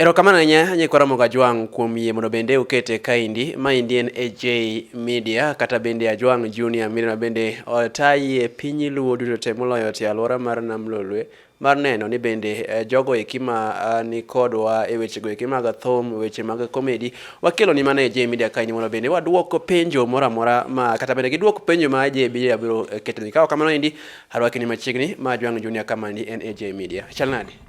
Erokamano ahinya Nyikwa Ramogi Ajwang' kuom yie mondo bende ukete kaendi. Maendi en AJ Media kata bende Ajwang' Junior Media bende otayi e piny Luo duto te moloyo te alwora mar Nam Lolwe mar neno ni bende eh, jogo eki ma ah, ni kodwa e wechego eki mag thum, weche mag komedi wakelo ni mana e AJ Media kaendi mondo bende wadwok penjo moro amora ma kata bende gidwok penjo ma AJ Media biro eh, ketoni. Ka ok kamano endi arwaki ni machiegni ma Ajwang' Junior kamani en AJ Media. Chal nade?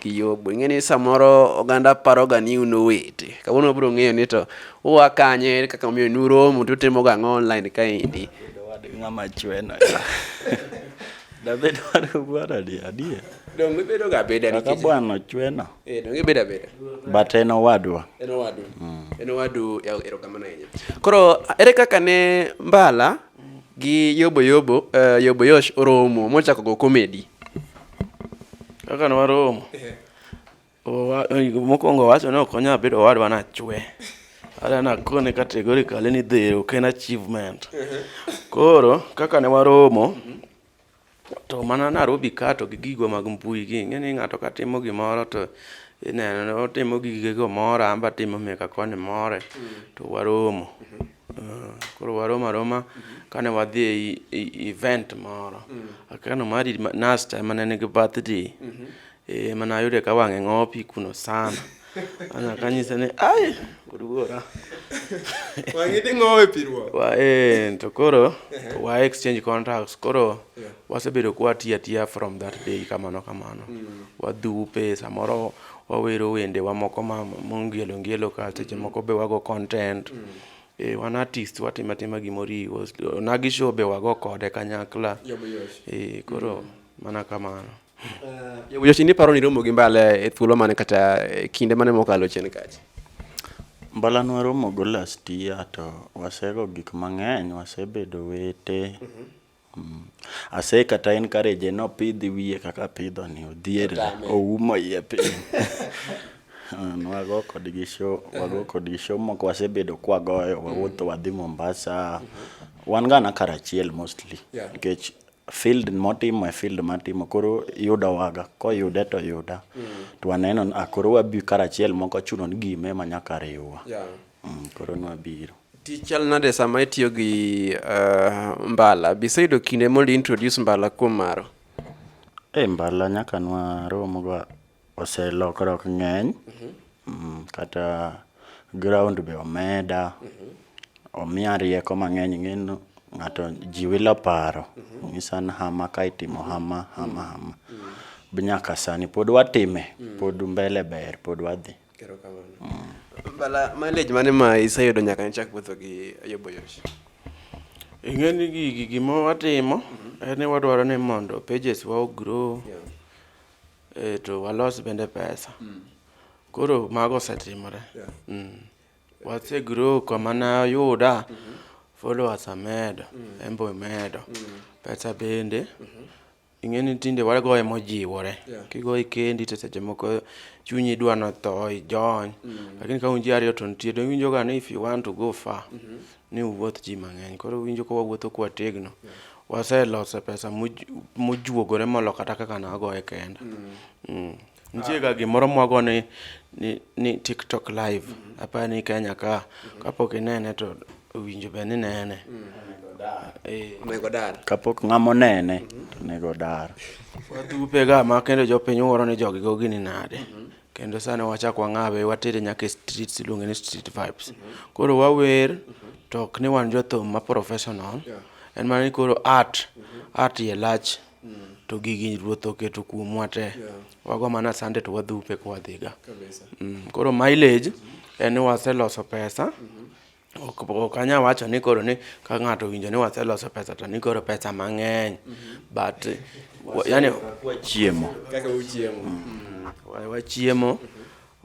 Kiyobo. Ing'e ni samoro oganda paroga ni un owete. Kawuono wabiro ng'eyo ni to ua kanye, ere kaka omiyo nuromo, to utimoga ang'o online kaendi. Ng'ama chweno ya. Dabed wadu bwana adi adier. Donge ibedoga abeda Kaka nikech bwana ochweno. eh, donge ibedo abeda. But en owadwa. En owadu. En owadu ya- erokamano ahinya. Koro ere kaka ne Mbala gi Yobo Yobo eh, Yobo Yosh oromo mochako go komedi? Kaka ne waromo, eh. mokwongo owacho ni ok onyal bedo owadwa nachwe. Ada nakone categorically ni dhi ok en achievement. Eh. Koro kaka ne waromo, mhm. to mana Nairobi ka to gi gigo mag mbui gi, ing'e ni ng'ato ka timo gimoro to ineno otimo gigego moro, an be atimo meka koni more, mm. to waromo. Mhm. Mm, koro warom aroma kane wadhi e event moro mm. akano mari nasta ema ne nigi birthday mm-hmm. eh, mana ayude ka wang'e ng'opi kuno sana ana kanyise ni ai wuora wang'idi ng'owe piruo wa eh to koro wa exchange contracts koro wasebedo kwa tia tia from that day kamano kamano mm. wadhupe samoro wawero wende wa moko ma mongelo ngelo ka seche moko be wago content mm. e, wan artist watima tima gimoriwo nagi show be wago kode kanyakla e, koro mm. mana kamano uh, eh, yochini paro ni romo gi mbala e thuolo mane kata e kinde mane mokalo chien kacha mbala nwaromo go last year to wasego gik mang'eny wasebedo wete mm -hmm. Ase kata encourage ni opidh wiye kaka apidho ni, odhier ni, oumo iye piny. Ne wago kodgi show, wago kodgi show moko wasebedo ka wagoyo, wawuotho wadhi Mombasa. Wan ga na kar achiel mostly nikech field motimo e field matimo koro yudowa ga, koyude to yuda. To waneno ni ah, koro wabi kar achiel ma ok ochuno ni giyime ma nyaka riwwa. Mm, koro nwa biro. Tich chal nade sama itiyo gi uh, mbala? Biseyudo kinde mondo introduce mbala kuom maro? E mbala nyaka nwa romoga oselokruok ng'eny. Mm -hmm. mm, kata ground be omeda. Mm -hmm. Omiya rieko mang'eny ng'eno ng'ato ji wilo paro. Mm -hmm. Ng'isa ni hama ka itimo hama, hama, hama. Mm -hmm. Nyaka sani pod watime, mm -hmm. pod mbele ber, pod wadhi. Erokamano. Mm. Bala mileage mane ma iseyudo nyaka ne chak wuotho gi Ayobo Yosh? Ing'e ni gigi gima watimo mm-hmm. en ni wadwaro ni mondo pages wa ogrow yeah. e, to walos bende pesa mm. koro mago osetimore yeah. mm. wasegrow kama nayuda mm -hmm. followers amedo mm. embo imedo mm. pesa bende mm -hmm. Ing'e ni tinde wagoye mojiwore. Yeah. Kigoye kendi to seche moko chunyi dwa notho ijony. Mm. Lakini ka un ji ariyo to nitie donge winjo ga ni if you want to go far mm -hmm. ni uwuoth ji mang'eny. Koro winjo ka wawuotho kwa tegno. Yeah. Waseloso pesa mujuogore molo kata kaka nagoye kenda. Mm. Mm. Nitie ga gimoro mwago ni, ni, ni TikTok live. Aparo ni Kenya ka, kapok inene to owinjo be ni nene. Eh, Onego dar. Kapok ng'ama onene to onego odar. wadhupe ga ma kendo jopiny wuoro ni jogi go gini nade. Kendo sani wachak wang'awe watere nyaka e streets iluonge ni street vibes. Koro wawer to ok ni wan jothum ma professional. En mana ni koro art, art ye lach. mm. to gigi ruoth oketo kuomwa te yeah. wago mana sande to wadhupe ka wadhiga mm. koro mileage mm -hmm. en ni waseloso pesa mm -hmm ok anya wacho ni koro ni ka ng'ato owinjo ni waseloso pesa to ni koro pesa mang'eny mm-hmm. but yani wachiemo kaka uchiemo mm. mm. wachiemo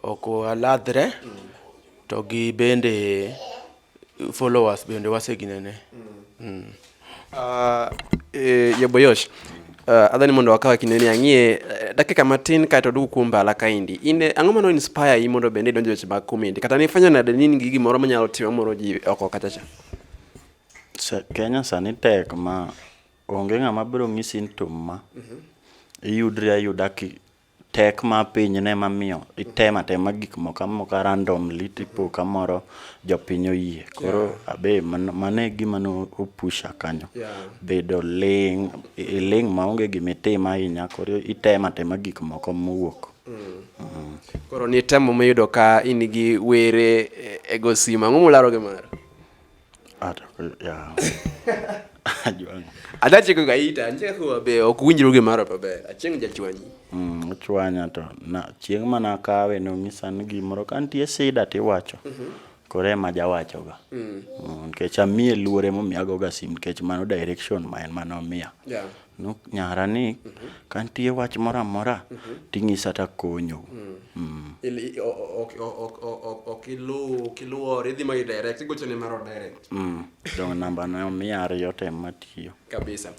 ok waladhre mm. to gi bende followers bende waseginene mm. mm. uh, e, yaboyosh uh, adhani mondo wakawa kinde ni ang'ie eh, dakika matin kaeto dugu kuom mbala kaendi in eh, ang'o mano inspire yi mondo bende idonjo weche mag comedy kata nifwenyo nade ni in gi gimoro manyalo timo moro ji oko kachacha kenya sani tek ma onge ng'ama biro ng'isi ni tum ma mm -hmm. iyudri ayuda tek ma piny ne mamiyo itema tema gik moko amoka randomly tipo kamoro jopiny oyie koro yeah. abe mane gima no opusha kanyo yeah. bedo ling iling maonge gima itima ahinya koro itema tema gik moko mowuok mm. mm. koro ni temo miyudo ka in gi were e, e gosima ang'o mularo gi mara adache kaka ita anche kuwa be ok winjru gi maro pa ber achieng jachwanyi mm ochwanya to na chieng mana kawe no nyisa ni gimoro ka nitie sida ti wacho mm -hmm. kore ma ja wacho ga mm. mm nikech amie luore mo miago ga sim nikech mano direction ma en mano mia yeah. Nuk nyara ni ka nitie wach moro amora ting'isa takonyo. Mm. Ili- o- o- ok- o- ok- o- o- ok iluw ok iluor idhi ma idirect igochone mar odirect Mm. Donge namba ne omiya ariyo tem matiyo. kabisa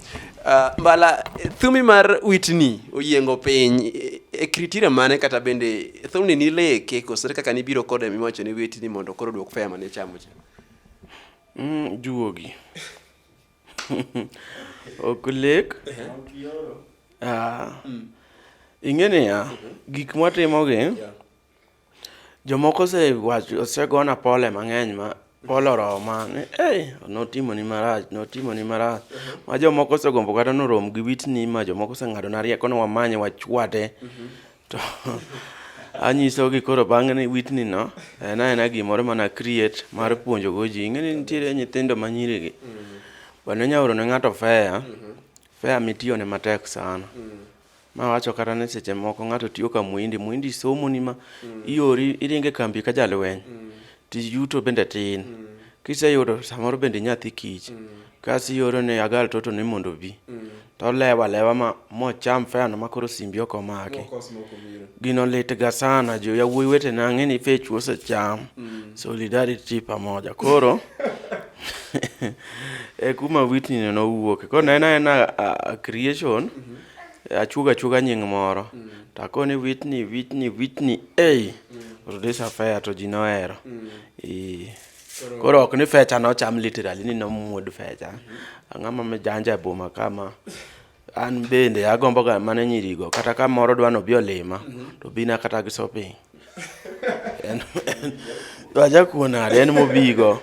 Ah, mbala eh, thumi mar witni oyiengo piny eh, e kritira mane kata bende thumni nileke koso ere kaka nibiro kode miwacho ni witni mondo koro duok fea mane ichamo cha Mm, juogi. Okulek. Ah. Mm. Ing'e niya, mm-hmm. gik mwatimogi, jomoko osegona pole mang'eny ma pole oroma ni ei notimoni marach notimoni marach mm-hmm. ma jomoko osegombo kata norom gi witni ma jomoko oseng'adona rieko ni wamanye wachwade mm-hmm. to anyisogi koro bang'e ni witni no en aena gimoro mana create mar puonjogo ji ing'eni nitiere nyithindo ma nyirigi bende inya oro ne ng'ato fea fea mitiyone matek sana ma wacho kata ni seche moko ng'ato tiyo ka muindi muindi somoni ma iori iringe kambi ka jalweny Tich yuto bende tin. Mm. Kiseyudo samoro bende nyathi kich. Mm. Kasi yoro ne agal toto ni mondo obi. Mm. To lewa lewa ma mocham feno ma koro simbi ok omaki. Gino lit ga sana jo ya wuoyi wete na ng'eni fech wose cham. Mm. Solidarity pamoja. Koro e kuma witni ne no wuoke. Koro na ena ena creation. Mm -hmm. Achuga chuga nying moro. Mm. Takoni witni witni witni ei. Hey. release a fair to ji nohero mm. koro ok ni fecha nocham literally ni nomuod fecha mm-hmm. ang'ama mijanja e boma kama an bende agomboga mana nyirigo kata ka moro dwa nobi olima mm-hmm. to bina kata gi shopping aja kuonade en mobigo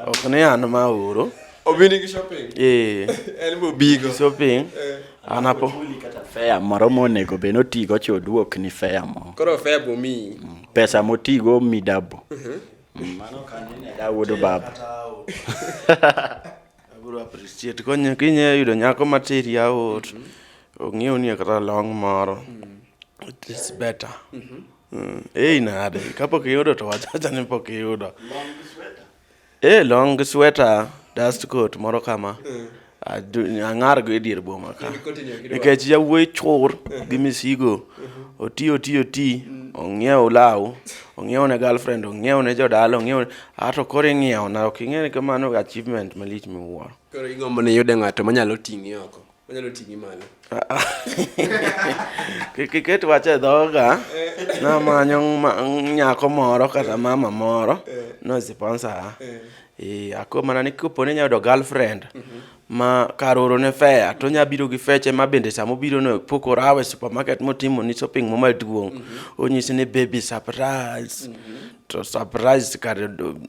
ok ni an ma oro Obinigi shopping. Eh. En be obigo. Shopping. Eh. Anapo. Kata fea moro monego be notigo cha oduok ni fea mo. Koro fea bo mi. Mm. Pesa motigo mi dabo. Mhm. Mm, mano kanene da wuodo baba. Abro appreciate konyo kinye yudo nyako materi aot. Mhm. Ong'eyo ni kata long moro. Mm. It is better. Mhm. Mm. Ei nade, kapok iyudo to wachacha ni pok iyudo. Long Eh, long sweater, dust coat moro kama. Mm. ang'ar go e dier boma ka nikech yawuoyi chur gi misigo uh-huh. oti oti oti mm. ong'iew law ong'iew ne girlfriend ong'iew ne jodala ong'iew ato koro ing'iew na ok ing'e ni kamano achievement malich miwuoro koro igombo ni yude ng'ato manyalo ting'i oko Onyalo ting'i malo. Kik iket wach e dhoga. Namanyo ma- nyako moro kata mama moro nosiponsora. Eh, ako mana ni kopo ni nyayudo girlfriend ma kar oro ne fea to nya biro gi feche ma bende sama obiro no pok orawe e supermarket motimo ni shopping mo maduong' onyisi ni baby surprise to surprise kar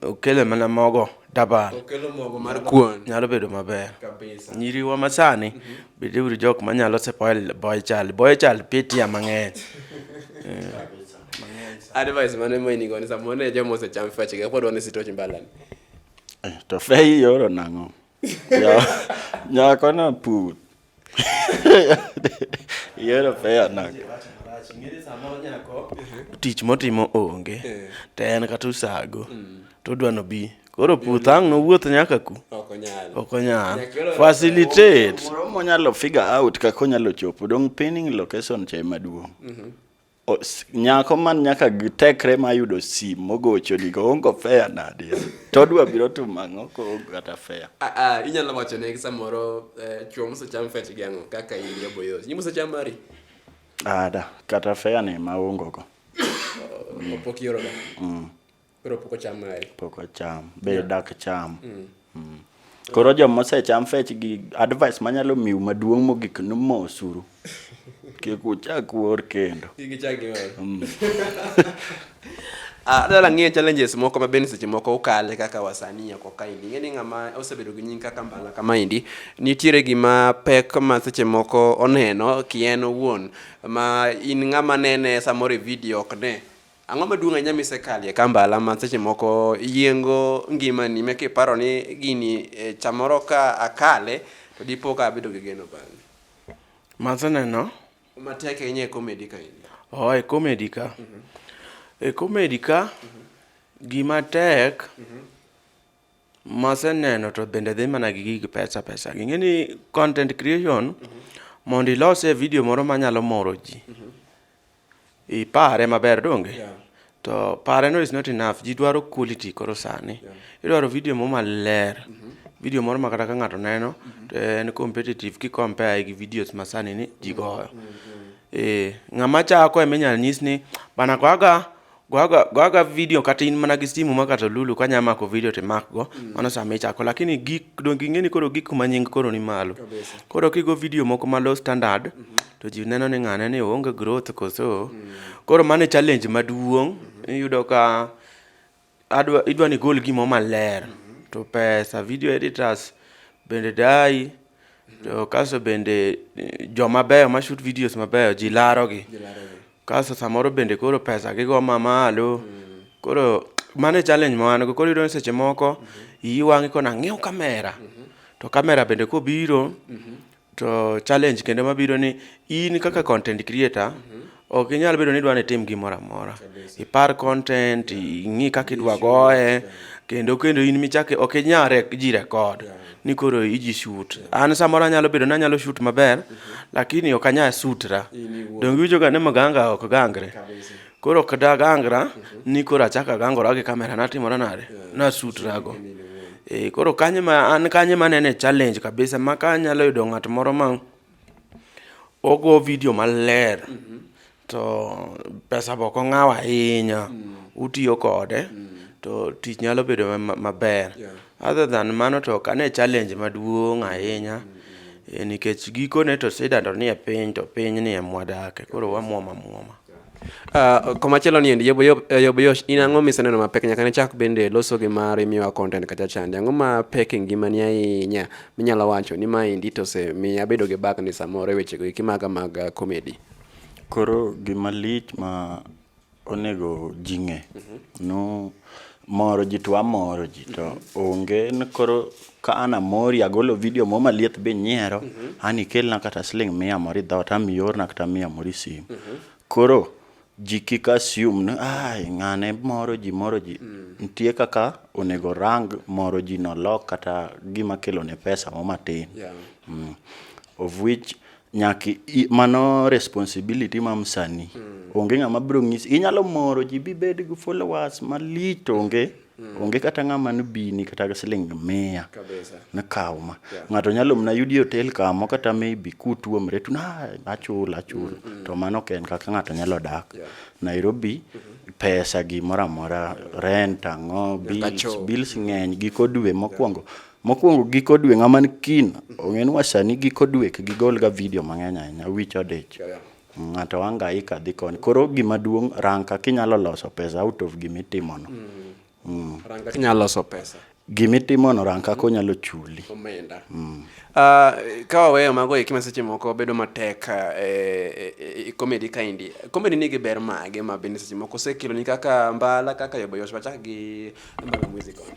okele mana mogo dabal okelo mogo mar kuon nyalo bedo maber kabisa nyiriwa masani mm -hmm. beduru jok manyalo sepoil boy child boy child pitia mang'eny advice mane moinigo ni samoro ne joma osecham fachga pod wan e sitoch mbalani eh, to fei yoro nang'o nyakono put Yiero fair nak. Tich motimo onge. Eh. To en kata usago. Mm. To odwa nobi. Koro puth ang' nowuoth nyaka ku. Ok onyal. Ok onyal. Facilitate. Moro monyalo figure out kaka onyalo chopo. Dong pinning location che maduong'. Mhm. nyako man nyaka tekre ma yudo sim mogocho ni oongo fea nadi to odwa biro timo ang'o koongo kata fea ah, ah, inyalo wacho ne samoro eh, chuo mosecham fech gi ang'o kaka in jaboyo nyi mosecham mari ada ah, kata fea ni ma ongo go oh, opok yoroga mm. Koro pok ocham mari. Pok ocham. Be yeah. dak cham. Mm. Mm. Koro joma osecham fech gi advice manyalo miu maduong' mogik ni mosuru. Kik uchak wuor kendo. Kik ichak iwuor. Mm. Ah, adala ng'iyo challenges moko ma bende seche moko ukale kaka wasanii oko kaendi ing'e ni ng'ama osebedo gi nying kaka mbala kamaendi nitiere gima pek ma seche moko oneno kien owuon ma in ng'ama nene samoro e video ok ne Ang'o maduong' ahinya misekalie ka mbala ma seche moko yiengo ngimani meke iparo ni gini e, chamoro ka akale to dipo ka abedo gi geno bang'e? Maseneno Matek ahinya e komedi ka in. oh, e komedi ka e komedi ka gima tek maseneno to bende dhi mana gi gig pesa pesa gi ng'e ni content creation mondo ilosie video moro manyalo moro ji Ipare maber donge? Yeah. To pare no is not enough. Ji dwaro quality koro sani. Yeah. Idwaro video mo maler. Mm -hmm. Video moro ma kata ka ng'ato neno mm -hmm. to en competitive ki compare gi videos ma sani ni ji goyo. Mm -hmm. Eh, ng'ama chako ema inyalo nyis ni bana kwaga Goga, goga video kata in mana gi simu ma kata lulu ka nyama ko video te mak go mm. mano sama ichako lakini gik don gingeni koro gik kuma nying koro ni malo koro kigo video moko ma low standard mm -hmm. to ji neno ni ng'ane ni onge growth koso mm. koro mano challenge maduong' mm. iyudo ka adwa idwa ni gol gimo maler mm -hmm. to pesa video editors bende dai to kaso bende eh, joma beyo ma shoot videos mabeyo ji larogi Kasto samoro bende koro pesa gi go ma malo. Mm. Koro mane challenge ma wan go. Koro iyudo ni seche moko mm -hmm. iyi wang'i kona ng'iew kamera. Mm -hmm. To kamera bende kobiro mm -hmm. to challenge kendo mabiro ni in kaka content creator mm -hmm. Ok inyal bedo ni idwa ni itim gimoro amora. Ipar content, ing'i kaka idwa goye, kendo kendo in michake ok inyal ji record. ni koro iji shoot an samoro anyalo bedo ni anyalo shoot maber lakini ok anyal sutra donge iwinjoga ni mganga ok gangre koro ok dagangra ni koro achako agangora gi kamera natimora nade nasutrago e, koro kanye ma an kanye manene challenge kabisa ma kanyalo yudo ng'at moro ma ogo video maler mm -hmm. to pesa be ok ong'aw ahinya, utiyo kode to tich nyalo bedo maber. Other than mano to ok ane challenge maduong' ahinya nikech gikone to sida to nie piny to piny ni ema wadakie koro wamuom amuoma. Uh, komachielo ni endi Yoboyosh, in ang'o miseneno mapek nyaka ne chak bende loso gi mari miwa content kacha chande? Ang'o mapek e ngimani ahinya minyalo wacho ni ma endi to osemiyo abedo gi bagni samoro e wechego eki maga mag comedy? Koro gima lich ma onego ji ng'e nu moro ji to amoro ji to onge ni koro ka an amori agolo video mo maliet be inyiero an ikelna kata siling' mia moro i dhoot ama iorna kata mia moro i sim koro ji kik assume ni ai ng'ane moro ji moro ji nitie kaka onego orang moro ji no lok kata gima kelone pesa mo matin Yeah. of which nyaka mano responsibility ma msanii mm. onge ng'ama biro ng'isi inyalo moro ji bibed gi followers malich to onge mm. onge kata ng'ama nobini kata ga siling mia nakawo ma yeah. ng'ato nyalo mna yudi hotel kamo kata maybe kutuomre tu na achul achul mm -hmm. to mano ok en kaka ng'ato nyalo dak yeah. nairobi mm -hmm. pesa gimoro amora rent ang'o bills, bills ng'eny giko dwe mokwongo yeah Mokwongo giko dwe ng'ama ni kin ong'e ni wasani giko dwe gigol ga video mang'eny ahinya wich odich. Ng'ato hangaika dhi koni. Koro gima duong' rang kaka inyalo loso pesa out of gima itimono. Mm. Rang kaka inyalo loso pesa. Gima itimono rang kaka onyalo chuli. Omenda. Mm. Uh, ka waweyo mago eki ma seche moko bedo matek eh, eh, comedy kaendi comedy nigi ber mage ma bende seche moko osekeloni kaka mbala kaka yoboyosh wachak gi mbala music on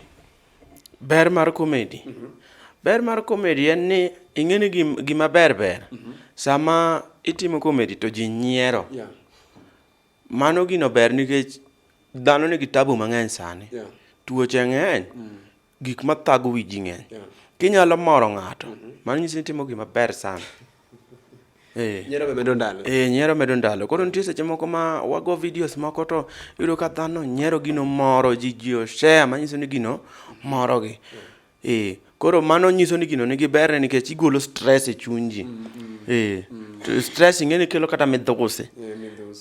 Ber mar komedi. Mm -hmm. Ber mar komedi en ni ing'eni gima ber ber. Mm -hmm. Sama itimo komedi to ji nyiero. Yeah. Mano gino ber nikech dhano nigi tabu mang'eny sani. Yeah. Tuoche ng'eny. Mm -hmm. Gik mathago wiji ng'eny. Yeah. Kinyalo moro ng'ato. Mm -hmm. Mano nyisi ni itimo gima ber sana. Eh. Nyiero be medo ndalo. Eh, nyiero medo ndalo. Koro nitie seche moko ma wago videos moko to yudo ka dhano nyiero gino moro ji ji oshare manyiso ni gino morogi. Eh, koro mano nyiso ni gino nigi berne nikech igolo stress e chuny ji. Mm, mm. Eh, mm. stress ing'eni kelo kata midhusi.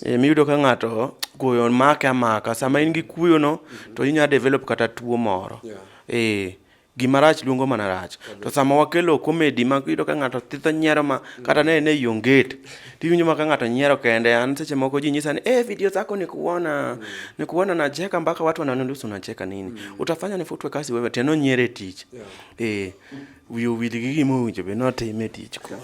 Eh, eh miyudo ka ng'ato kuyo make amaka. Sama in gi kuyono mm-hmm. to inya develop kata tuo moro. Yeah. Eh, gima rach luongo mana rach to sama wakelo comedy ma iyudo ka ng'ato thitho nyiero ma kata ne ne yonget tiwinjo ma ka ng'ato nyiero kende an seche moko ji nyisa ni eh video zako ni kuona ni kuona na jeka mpaka watu wananiuliza unacheka nini mm. utafanya nifutwe kazi wewe tena nyiere tich yeah. eh wiyo wil gi gima owinjo be notime tich koro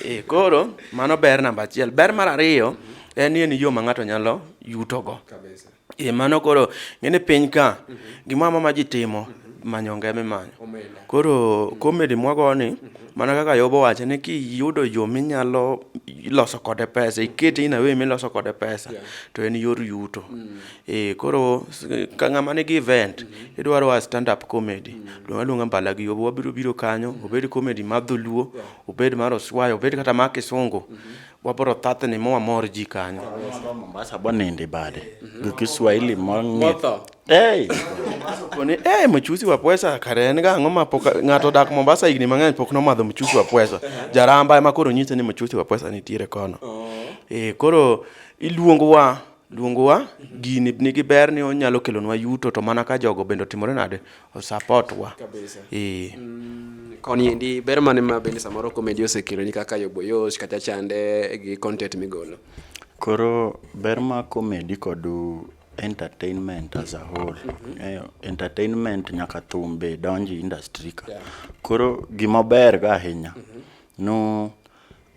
eh koro mano ber namba achiel ber mar ariyo mm -hmm. en ni en yo ma ng'ato nyalo yutogo kabisa E mano koro ng'e ni piny ka mm -hmm. gimoro ma ji timo mm -hmm. manyo ngeme manyo. Omena. Koro mm -hmm. komedi mwago ni mm -hmm. mana kaka Yobo wacho ni kiyudo yo minyalo loso kode pesa, ikete in awe miloso kode pesa yeah. to en yor yuto. Mm -hmm. E koro ka ng'ama nigi event mm -hmm. idwaro wa stand up comedy. Mm -hmm. Luonga luonga mbala gi Yobo wabiro biro kanyo, mm -hmm. obed comedy mar dholuo, yeah. obed mar oswayo, obed kata mar kisungu. Mm -hmm. wabro thathni ma wamor ji kanyo mombasa bonindi bade gi kiswahili mong'itho hey. ni hey, mchusi wa pwesa kare en ga ang'o ma pok ng'ato dak mombasa higni mang'eny pok nomadho mchusi wa pwesa jaramba ema koro nyise ni mchusi wa pwesa nitiere kono oh. e, koro iluongowa luongowa gini nigi ber ni onyalo kelonwa yuto to mana ka jogo bende otimore nade osapot wa ee mm, koni endi ber mane ma bende samoro komedi osekeloni kaka yoboyosh kata chande gi content migolo koro ber ma komedi kod entertainment as a whole mm -hmm. eh, entertainment nyaka thum be donji industry ka yeah. koro gima ber ga ahinya mm -hmm. no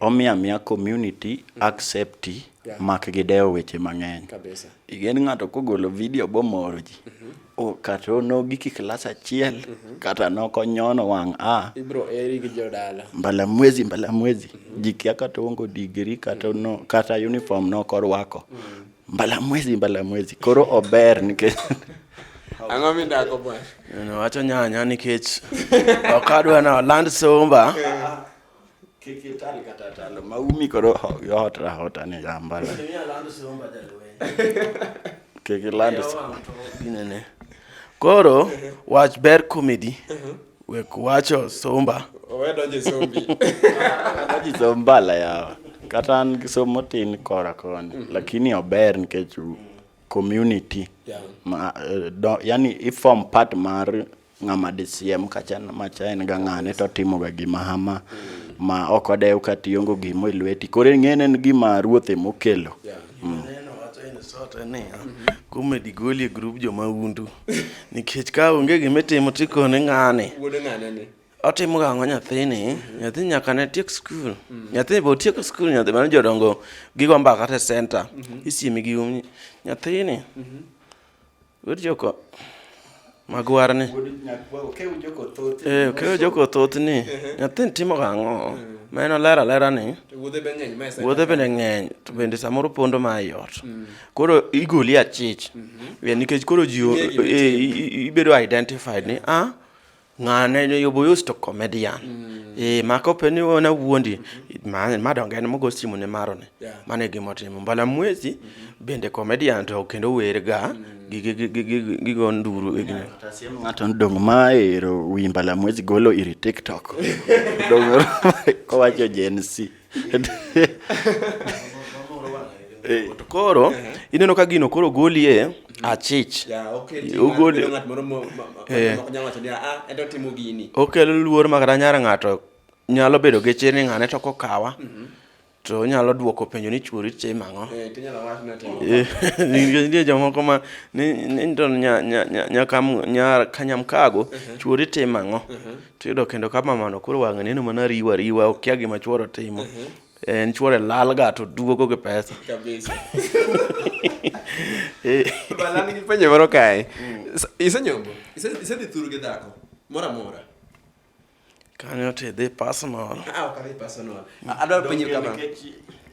Omiyo amiya community accept yeah. mak gidewo weche mang'eny kabisa igen ng'ato kogolo video bomoro ji mm -hmm. o kata onogi ki klas achiel mm -hmm. kata nokonyono wang' a ibro eri gi jodala mbala mwezi mbala mwezi mm -hmm. jikia kata ongo digiri kata mm -hmm. no kata uniform nokorwako mm -hmm. mbala mwezi mbala mwezi koro ober nikech ang'o midako bwana wacho nyanya nikech ok adwa na land somba Kik ital kata talo ma umi koro yot rahota ni jambala. Kik iland ginene. Koro wach ber comedy. Wek wacho somba. Owe donje sombi. Donje sombala yawa. Kata an gi somo tin kora koni. Mhm. Lakini ober nikech community. Yeah. Ma, eh, do, yani i form part mar ng'ama disiem kacha macha en ga ng'ane to otimoga gima hama ma ok odew ka tiongo gimo e lweti koro ing'ene en gima ruoth emokelo mm. kume digoli e grup joma undu nikech ka onge gima itimo tikone ng'ane otimo ga ang'o nyathini nyathi nyaka ne tiek skul mm. nyathi be otieko skul nyathi mano jodongo gigo mbaka te center mm-hmm. isiemi gi um nyathini mm-hmm. Wuod Joko, magwar ni. Eh, okeyo Joko thoth ni. Nyathin timo gang'o? Ma en olera olera ni. Wuodhe bende ng'eny. To bende samoro pondo ma ei ot. Mm. Koro igoli achich. Mm-hmm. Eh, nikech koro ji eh, ibedo identified ni, ah, ng'ane yoboyos to comedian mm. e mako pe ni wona wuondi mm-hmm. ma donge en mogo simu ne maro ne yeah. mane gimo timo mbala mwezi mm -hmm. bende comedian to kendo werga mm. gigo nduru e gine tasiem ng'ato dong ma ero wi mbala mwezi golo iri tiktok dong kowacho jensi Eh. to koro uh-huh. ineno ka gino koro goli e mm-hmm. achich okelo luor makata nyara ng'ato nyalo bedo gi chir ni ng'ane to kokawa mm-hmm. to onyalo dwoko penjo ni chuori che mang'o eh, eh, nitie jomoko ma ni to nyakanyamkago uh-huh. chuori te mang'o uh-huh. tiyudo kendo ka mamano koro wang'e neno mana riwa riwa okia gima chuoro timo mhm. en chuore lal ga to duogo gi pesa eh. balanigi penjo moro kae mm. isenyombo isedhi thuru gi dhako moro amora kanyo tidhi personal ah, adwa penjo kama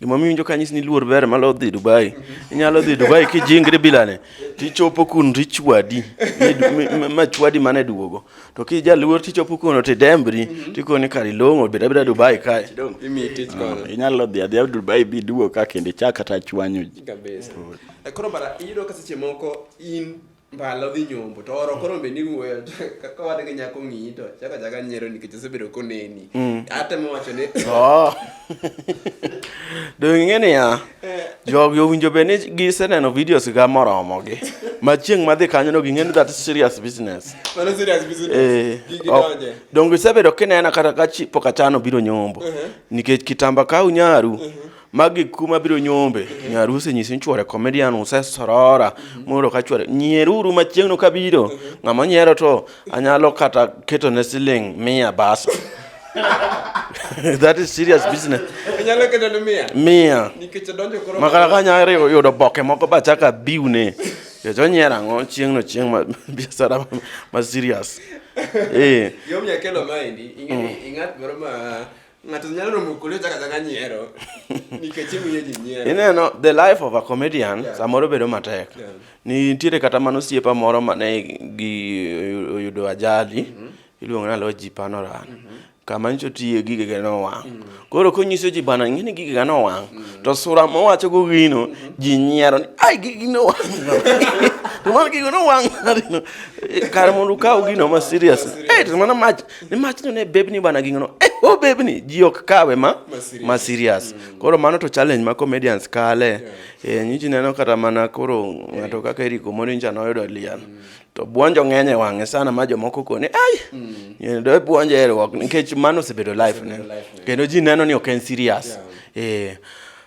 Gima miwinjo ka nyis ni luor ber malo dhi Dubai. Inyalo dhi Dubai kijingri bilane. Tichopo kun richwadi. Ma chwadi mane duogo. To ki jaluor tichopo kun ti dembri. Tikoni kari longo bira bira Dubai kae. Imi tich ah, kono. Inyalo dhi adhi Dubai bi duogo ka kende chak kata chwanyo ji. Kabisa. Eh, koro mara iyudo ka seche moko in mbala odhi nyombo to oro koro bende iwuoyo to kaka wan gi nyako ng'iyi to chako chaka nyiero nikech osebedo koneni Mm. atemo wacho ni Oh. Donge ing'e niya, jogi owinjo bed ni giseneno videos ga moromogi. Ma chieng' madhi kanyono ging'e ni that is serious business. mano serious business Eh, Gi- ok. gidonje Donge isebedo kinena kata ka chi- pok achano biro nyombo. Nikech kitamba kaw nyaru, magi kuma biro nyombe nyar usenyisi ni chwore comedian usesorora mondo ka chwore nyieruru machieng'no kabiro ng'ama nyiero to anyalo kata keto ne siling mia basa that is serious business inyalo keto ne mia mia nikech donjo koro makara ka nyare yudo boke moko ba chaka biune nikech onyiero ang'o chieng'no chieng' ma biashara ma serious eh yom nyakelo maendi ing'e ing'at moro ma Ng'ato nyalo romo kuli ochaka chaka nyiero nikech imiyo ji nyiero. Ineno the life of a comedian yeah. samoro bedo matek. Yeah. Nitiere kata mano siepa moro mane gi oyudo ajali mm -hmm. iluongo na Loji Panoran. Mm -hmm. kama nyicho tiye gige ga nowang' mm. koro konyiso ji bana ng'eni gige ga nowang' mm. to sura mowacho go gino mm-hmm. ji nyiero ni ai gigi nowang' to mano gigo nowang' kar mondo ukaw gino ma serious eh to mano mach ni mach to ne bebni bana ging'ono eh, o oh, bebni ji ok kawe ma ma serious mm. koro mano to challenge ma comedians kale yeah. e, eh, nyichi neno kata mana koro ng'ato kaka eriko morincha noyudo lian mm. to buonjo ng'eny e wang'e sana ma jomoko koni ai mm. do buonjo erwok nikech mano osebedo life ne kendo ji neno ni ok en serious yeah. e,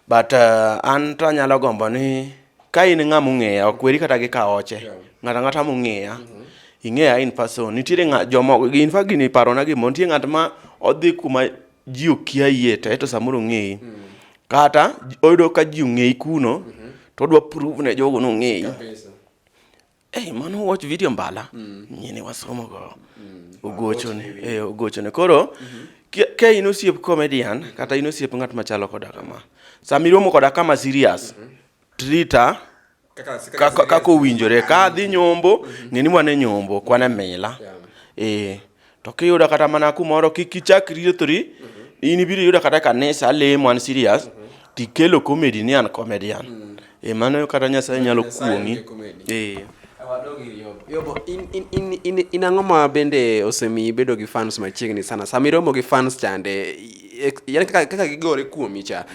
but uh, an to anyalo gombo ni ka in ng'a mong'eya ok weri kata gi kaoche ng'ata ng'ata mong'eya mm-hmm. ing'eya in person nitiere ng'a jomo in fact gini parona gimo nitie ng'at ma odhi kuma ji okia yie to eto samoro ong'eyi mm. kata oyudo ka ji ong'eyi kuno mm-hmm. to odwa prove ne jogo nong'eyi Hey, mano watch video mbala mm. nyini wasomo go mm. ogochone mm. eh, ogochone koro mm -hmm ka in osiep comedian kata in osiep ng'at machalo koda kama sama iromo koda kama serious trita kaka owinjore ka adhi nyombo ng'eni wane nyombo kwane mila ee To kiyudo kata mana kumoro kik ichak riethori, in ibiro yudo kata kanisa lemo an serious, tikelo comedy ni an comedian. Eh, mano kata Nyasaye nyalo kuong'i. Eh. Wadog ir Yobo. Yobo, in, in, in, in, in ang'o ma bende osemiyi bedo gi fans machiegni sana sama iromo gi fans chande i- ek- yaani kaka, kaka gigore kuomi cha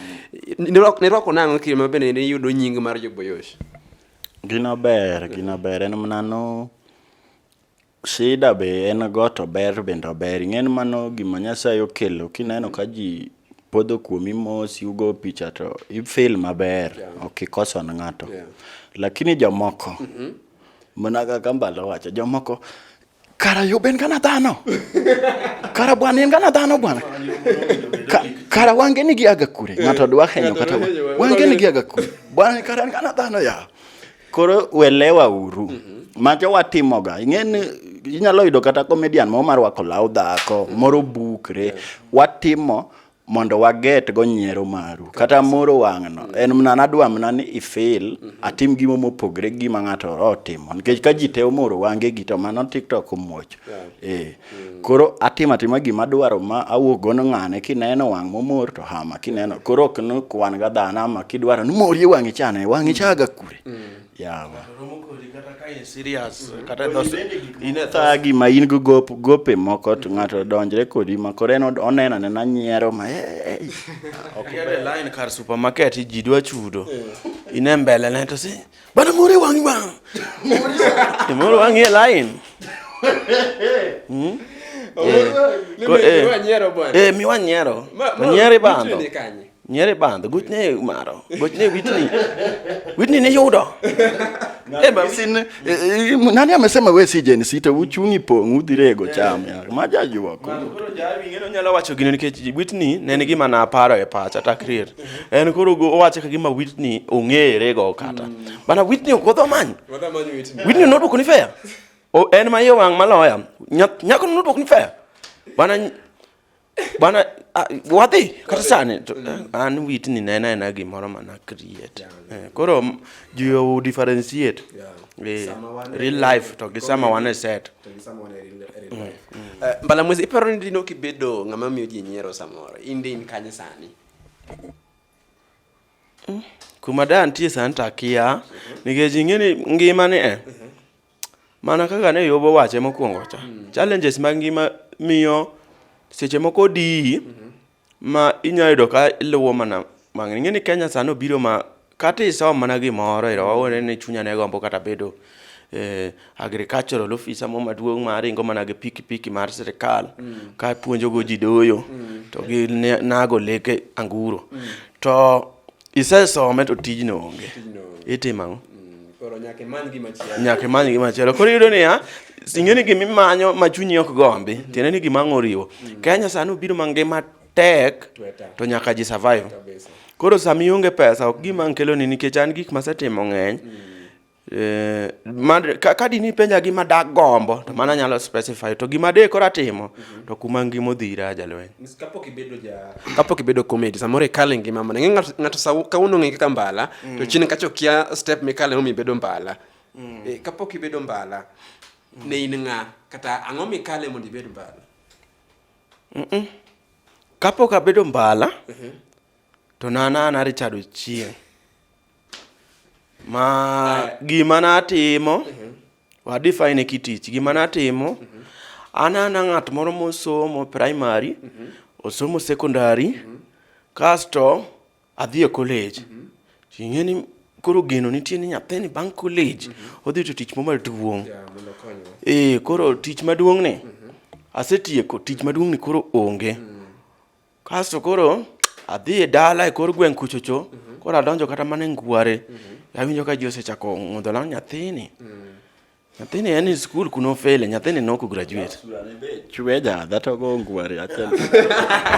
nirwako nirwako nang'o kiri ma bende niyudo nying mar joboyosh Gino ber, gino ber. En mana no Shida be en go to ber bende ober. Ing'eni mano gima Nyasaye okelo kineno ka ji podho kuomi mos yugo picha to i feel maber yeah. ok ikoso ne ng'ato yeah. lakini jomoko mm -hmm. mana kaka mbalo wacho jomoko kara yobe en gana dhano kara bwana en gana dhano bwana kara wange ni giaga kure ng'ato dwa henyo kata wange ni giaga kure bwana kara en gana dhano ya Koro welewa uru. Mm -hmm. Macho watimoga. Ing'eni inyalo yudo kata comedian mo mar wako law dhako, mm -hmm. moro bukre. Yeah. Watimo mondo waget go nyiero maru kata moro wang'no en mna nadwa mna ni ifil mhm. atim gimo mopogre gima ng'ato otimo nikech ka ji te omoro wange gi to mano tiktok omuoch eh Mm. Koro atima tima gima dwaro ma awuok gono ng'ane kineno wang' momor to hama kineno koro ok no kwan ga dhano ama kidwaro ni mori e wang'i chane wang'i chaga kure. Mm. Yawa. Inetha mm. gima in go gop gope moko to ng'ato donjre kodi ma koro en oneno ne na nyiero ma eh. eh. Ok line kar supermarket ji dwa chudo. Ine mbele ne to si Bwana Mori wangi bwana. Mori wangi line. Hmm? Eh, mi wan nyero. Nyeri bando. Nyeri bando. Gut ne umaro. Gut ne witni. Witni ne yudo. Eh, ba sin eh, eh, nani amesema wewe si Gen Z uchuni pong udhirego eh. cham ya. Maja yuwa. Koro jawi ngeno nyalo wacho gino nikech witni ne nigi mana paro e pacha takrir. en koro owache kagima Whitney ong'ere go kata mm. bana Whitney ok odho manyo Whitney nodwoko ni fair en ma iye wang' maloya nyako nodwoko ni fair bana bana wadhi kata sani eh, an Whitney ne en ena gimoro mana create eh, koro jiyo differentiate eh, real life to gi sama wan e set mm, mm. mbala mwezi iparo ni dino kibedo ng'ama miyo ji nyiero samoro in din kanye sani kuma da nitie sani to akia nikech ing'e ni ngimani e eh, mana kaka ne yobo wache mokwongo cha challenges mag ngima miyo seche moko diyi ma inyalo yudo ka iluwo mana mang'eny ing'e ni kenya sani obiro ma Kata isom mana gimoro ero wawone ni chunya ne gombo kata bedo eh, agricultural officer mo maduong' ma ringo mana gi pikipiki mar sirikal mm. ka puonjogo ji doyo mm. to gi nago leke anguro mm. to isesome to tijno onge itimo ang'o mm, nyaka imany gimachielo koro iyudo niya ing'e ni gimimanyo ma chunyi ok gombi mm. tiende ni gima ang' oriwo mm. kenya sani obiro mangima tek to nyaka ji survive koro sama ionge pesa ok gima nkeloni nikech an gik masetimo ng'eny mm. Eh, ka dini penja gima dak gombo to mana nyalo specify to gima de kora timo to kuma ngima odhira jalweny kapok ibedo ja kapok ibedo comedy samoro ikale ngima mana ng'e ng'ato sa kawuono ng'e kaka mbala to mm. chini kacho kia step mikale mi bedo mbala mm. eh, kapok ibedo mbala mm. ne in ng'a kata ang'o mikale mondo ibed mbala mm -mm. kapok abedo mbala mm -hmm. to nanana richard ochieng ma ah. gima natimo mm -hmm. wadefine kitich gima natimo mm -hmm. anana ng'at moro mosomo primary mm -hmm. osomo secondary mm -hmm. kasto Adhi e college. Mm -hmm. Ing'e ni koro geno nitie ni nyathini bang' college mm -hmm. odhi to tich moro maduong'. Yeah, eh, koro tich maduong' ni. Mm -hmm. Asetieko tich maduong' ni koro onge. Mm -hmm. Kasto koro adhi e dala e kor gweng' kuchocho. Mm -hmm. Koro adonjo kata mana e ngware. Mm -hmm. Awinjo ka ji osechako ng'udho law nyathini. Mm -hmm. Nyathini en e skul kuno ofele, nyathini ne ok graduate. Chwe ja dhato go ngwari achiel.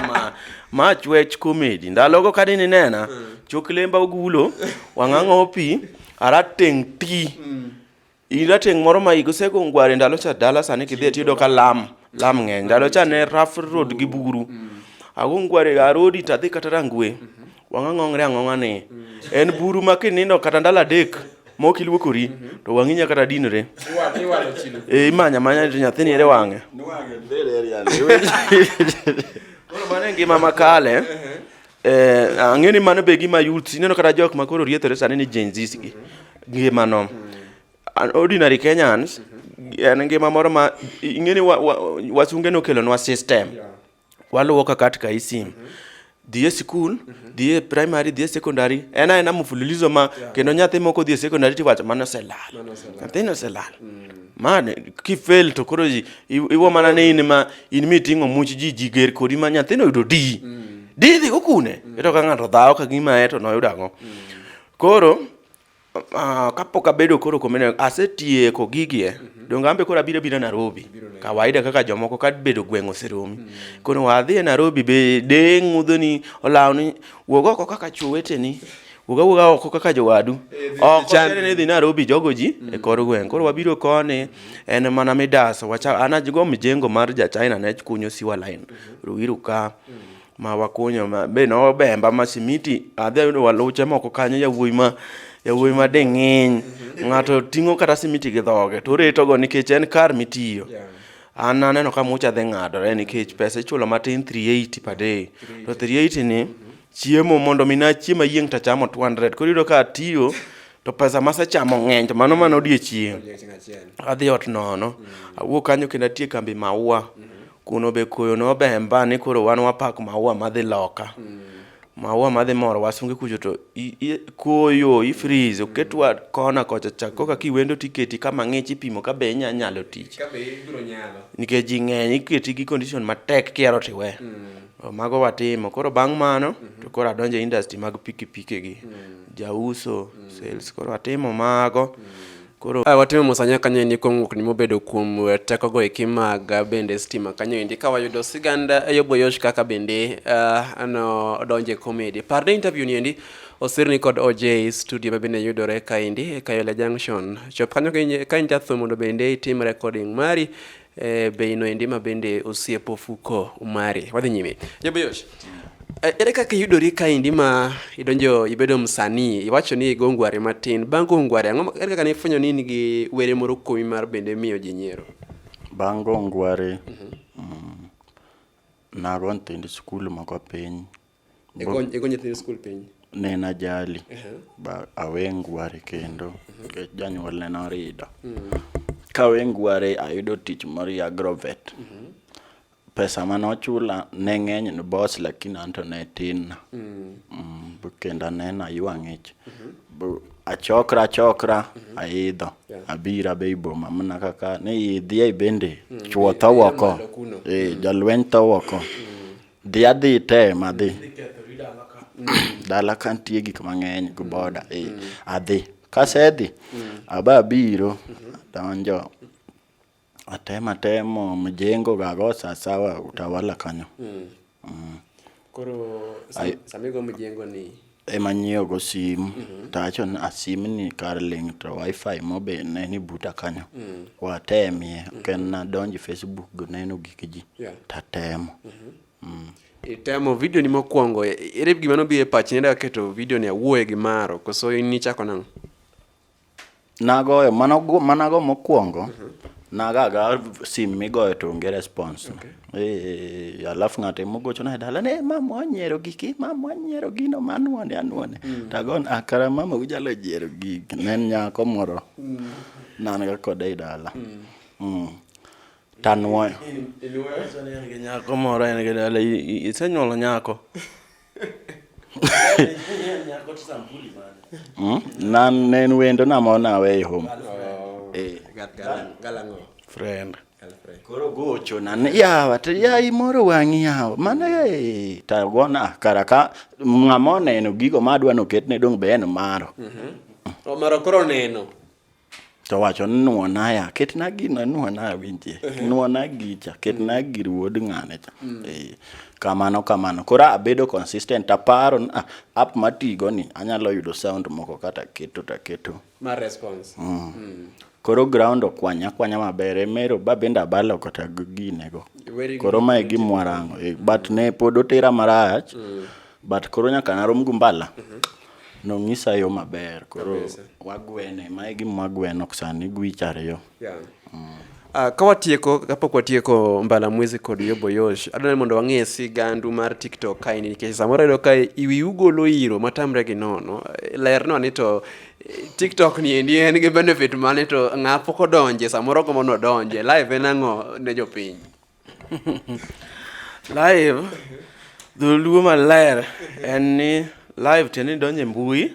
ma, ma chwech komedi. Ndalogo ka dini nena, chok lemba ogulo, wang'ang'o pi, arateng' ti. Mm. Irateng' moro ma igosego ngwari ndalo cha dala sani kidhi tiyudo ka lam, lam ng'eny. Ndalo cha ne rough road gi buru. Mm. Ago ngwari arodi tadhi kata rangwe. Mm -hmm. wang'a ng'ong're ang'ong'a ni en buru ma kinindo kata ndalo adek mok iluokori to wang'i nya kata dinre e imanya manya to nyathini ere wang'e koro mano e ngima makale eh, ang'e ni mano be gima youth ineno kata jok ma koro riethore sani ni Gen Zs gi ngimano An ordinary Kenyans en ngima moro ma ing'e ni wa- wa- wasunge nokelonwa system waluwo ka katika hii simu mm -hmm dhie sikul mm -hmm. dhie primary dhie secondary en aena mfululizo ma yeah. kendo nyathi moko dhie secondary tiwacho mano oselal nyathini oselal mm. ma kifail to koro iwo mana ni in ma in miting'o much ji ji ger kodi ma nyathini oyudo di mm. di dhigo kune mm. ito ka ng'ato dhawo ka gima e to noyudo ang'o mm. koro Uh, kapok abedo koro comedian asetieko gigi eh. Mm -hmm. Donge ambe koro abiro biro Nairobi. Biro Nairobi. Kawaida kaka jomoko ka bedo gweng' oseromi. Mm -hmm. Kono wadhi e Nairobi be de ng'udho ni olawo ni wuog oko kaka chwo weteni. Wuga wuga oko kaka jowadu. Eh, oko chere ne dhi Nairobi jogo ji mm -hmm. e kor gweng'. Koro wabiro koni en mana midaso. Wacha anajigo mjengo mar ja China ne kunyo siwa line. Mm -hmm. Ruiru ka. Mm -hmm. ma wakunyo ma be nobemba ma simiti adhi ayudo waluche moko kanyo yawuoyi ma yawuoyi ma ding'iny mhm. ng'ato ting'o kata simiti gi dhoge to oretogo nikech en kar mitiyo yeah. an aneno ka mucha dhi ng'adore nikech pesa ichulo matin 380 per day to 380 ni mhm. chiemo mondo mi nachiemo ayieng' to achamo 200 koro iyudo ka atiyo to pesa masechamo ng'eny to mano mana odiechieng' adhi ot nono mm. awuok kanyo kendo atie kambi maua mm. Kuno be koyo nobemba ni koro wan wapak maua madhi loka. Mm. Maua madhi moro wasunge kucho to i, i, koyo i freeze mm. oketwa kona kocha cha koka kiwendo tiketi kama ng'ich ipimo ka be inya nyalo tich. Ka be ibiro nyalo. Nikech ji ng'eny iketi gi condition matek kiero tiwe. Mm. Mago watimo. Koro bang' mano mm -hmm. to koro adonje industry mag pikipiki gi. Mm. Jauso, mm. sales. Koro atimo mago. Mm. Koro ah, watimo musanya kanyo endi kuom ng'ukni mobedo kuom eh, tekogo eki mag eh, bende stima kanyo endi ka wayudo sigand eh, Yobo Yosh kaka bende uh, no donje komedi. Par ne interview ni endi osirni kod OJ studio ma bende yudore kaendi e Kayole Junction. Chop kanyo ka in jatho mondo bende itim recording mari eh, bei noendi ma bende osiep ofuko mari. Wadhi nyime. Jabeyosh. Eh, ere kaka iyudori kaendi ma idonjo ibedo msanii iwacho ni igo ngware matin bang' go ngware ang'o ere kaka nifwenyo ni in gi were moro kuomi mar bende miyo ji nyiero bang' go ngware mm, nago nyithind skul moko piny Ego ego nyithind skul piny. Ne en ajali. Ba awengware kendo nikech janyuol ne norido. Kawengware ayudo tich moro e Agrovet. Pesa mane ochula ne ng'eny ne boss lakini an to ne tin. Mm, b- Kendo aneno aywa ng'ich. B- Achokra achokra aidho. Yeah. Abira be iboma mana kaka ni idhi ai bende chuo tho Idhi woko. malo kuno. Eh, jalweny tho woko. Dhi adhi tem adhi. Dala ka nitie gik mang'eny go boda eh, adhi. Kasedhi, aba abiro, donjo, atemo atemo mjengo gago sasawa utawala kanyo. Koro Ai- samigo mjengo ni ema nyiewo go sim mm -hmm. to awacho ni asim ah, ni kar link to wifi mobe ne ni buta kanyo mm -hmm. watemie mm -hmm. ken nadonji facebook neno gik ji yeah. tatemo mm -hmm. mm. itemo video ni mokwongo ere gima nobiro e pachi nenda keto video ni awuoye gi maro koso in nichako nang'o Nagoyo, manago, manago mokwongo, mm -hmm. nagaga sim migoyo to onge response. Okay. E, alafu ng'ate mogochona e dala ne mama wanyiero giki mama wanyiero gino manwone anwone mm. tagon akara ah, mama ujalo jiero gigi ne en nyako moro mm. nan ga kode e dala mm. Mm. tanwoyo nyako moro en gi dala isenyuolo nyako Hmm? na nen wendo na mo na we home eh galango friend koro gocho na yawa to ya imoro wang'i yawa mano e ta gona karaka ng'ama oneno gigo madwa noketne dong' be en maro mhm. omaro koro neno to wacho ni nuonaya ketna gino nuonaya winjie nuona gicha ketna gir wuod ng'ane cha mm. eh, kamano kamano koro abedo consistent aparo ni ah, app matigo ni anyalo yudo sound moko kata keto taketo ma response mm. Mm. koro ground okwanya kwanya maber emero ba bende abalo kata ginego koro mae gimwarango eh, but ne pod otera marach mm. but koro nyaka narom gu mbala mm -hmm. nong'isa yo maber koro wagwene mae gima wagweno sani gwich ariyo yeah. mm. Uh, ka watieko kapok watieko mbala mwezi kod yoboyosh adwa ni mondo wang'e sigandu mar tiktok kaini nikech samoro ayudo ka iwi ugolo iro matamre gi nono lernwa ni to eh, tiktok ni endi en gi benefit mane to ng'a pok odonje samoro gombo nodonje live en ang'o ne jopiny live dholuo maler en ni live tiende ni donjo e mbui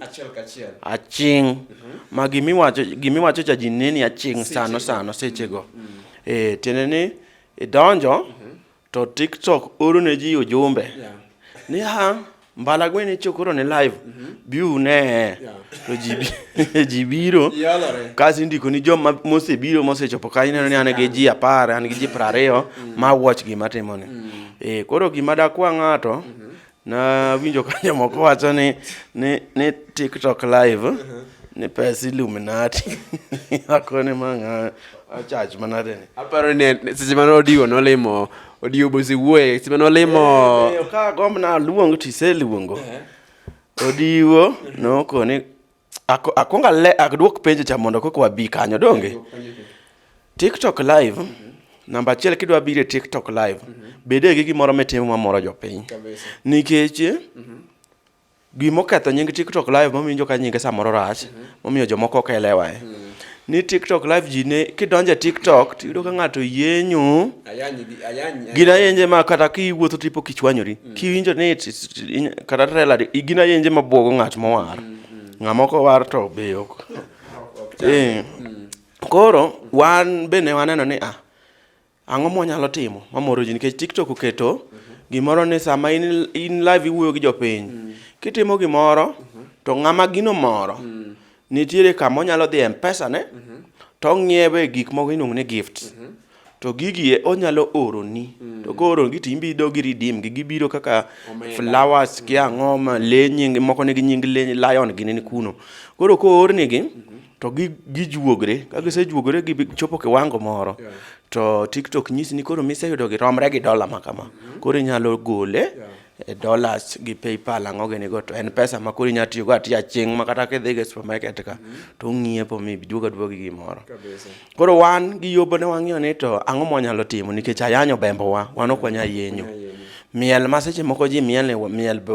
aching mhm. ma gimiwacho cha ji neni aching sano sano sechego mm. eh, tiende ni idonjo mhm. to tiktok oro ne ji ujumbe ni ha Mbala gwen icho koro ne live. Mm -hmm. Bi une. Yeah. To ji ji biro. Yalore. Kasi ndiko ni joma mose biro mose chopo kanyo neno ni an gi ji 10, an gi ji 20 mm. ma watch gima timone. Mm. Eh koro gima da kwa ng'ato. Mm -hmm. Na winjo ka jomoko wacho ni ni ni TikTok live. Mm -hmm. Ni pesa Illuminati. Akone manga. Achach manade ni. Aparo ni seche mane odigo nolimo Odiobo isewuoye sime nolimo Eh, eh, ka gomb na luong to iseluongo odiwo noko ni ako- akwongo ale- aduok penjo cha mondo koko wabi kanyo donge tiktok live namba achiel kidwa biro e tiktok live bede gi gimoro mitimo mamoro jopiny Kabisa. nikech Gimoketho nying TikTok live mawinjo ka nyinge samoro rach, mhm. momiyo jomoko ok elewa e. Mhm. Ni TikTok live ji ne kidonje TikTok to yudo ka ng'ato yenyu. Gina yenje ma kata kiwuotho tipo kichwanyori. Mhm. Kiwinjo ni kata trailer gina yenje ma bwogo ng'at mowar. Ng'amoko war to be ok. Eh. Koro wan bende waneno ni ah Ang'o mwanyalo timo mamoro ji nikech TikTok oketo gimoro ni sama in, in live iwuoyo gi jopiny mm. kitimo gimoro mm -hmm. to ng'ama gino moro mm. nitiere kama onyalo dhi e mpesa ne mm -hmm. to ong'iewe gik moko iluongo ni gift mm -hmm. to gigie onyalo oroni mm. to kooroni to imbi idogi redeem gi gibiro kaka Omega. flowers mm. kiang'o ma le nying moko nigi nying le lion gini ni kuno koro koornigi mm -hmm. to gijuogre ka gisejuogre gichopo kiwango moro to tiktok nyisi ni koro miseyudo giromre gi dola ma kama mhm. koro inyalo gole e dollars gi paypal ang'o gini go to en pesa ma koro inyalo tiyogo atiya chieng' ma kata kidhi e supermarket ka mhm. to ung'iepo mi duoga duoga gi gimoro koro wan gi yobo ne wang'iyo ni to ang'o mwanyalo timo nikech ayanyo bembowa wan ok wanya yenyo miel ma seche moko ji miel miel be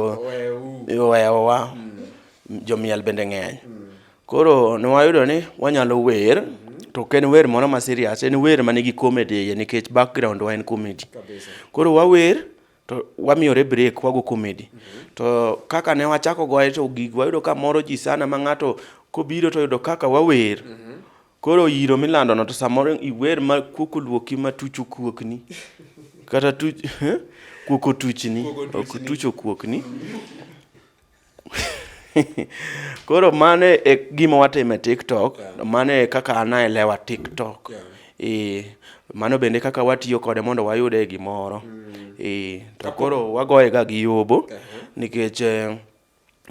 owewa mm. jomiel bende ng'eny mm. Koro nwayudo ni wanyalo wer to ok en wer moro ma serious, en wer ma nigi comedy e iye nikech background wa en comedy. Koro wawer to wamiyore break wago comedy. To kaka ne wachako goye to gig wayudo ka moro ji sana ma ng'ato kobiro to yudo kaka wawer. Koro iro milando no to samoro iwer ma kuok oluoki ma tuch okuokni. Kata tuch, kuok otuchni, ok tuch okuokni. Koro mano e gima watimo e TikTok, mano e kaka an aelewa TikTok. Eh, mano bende kaka watiyo kode mondo wayude gimoro. Mm. Eh, to koro wagoye ga gi yobo nikech eh,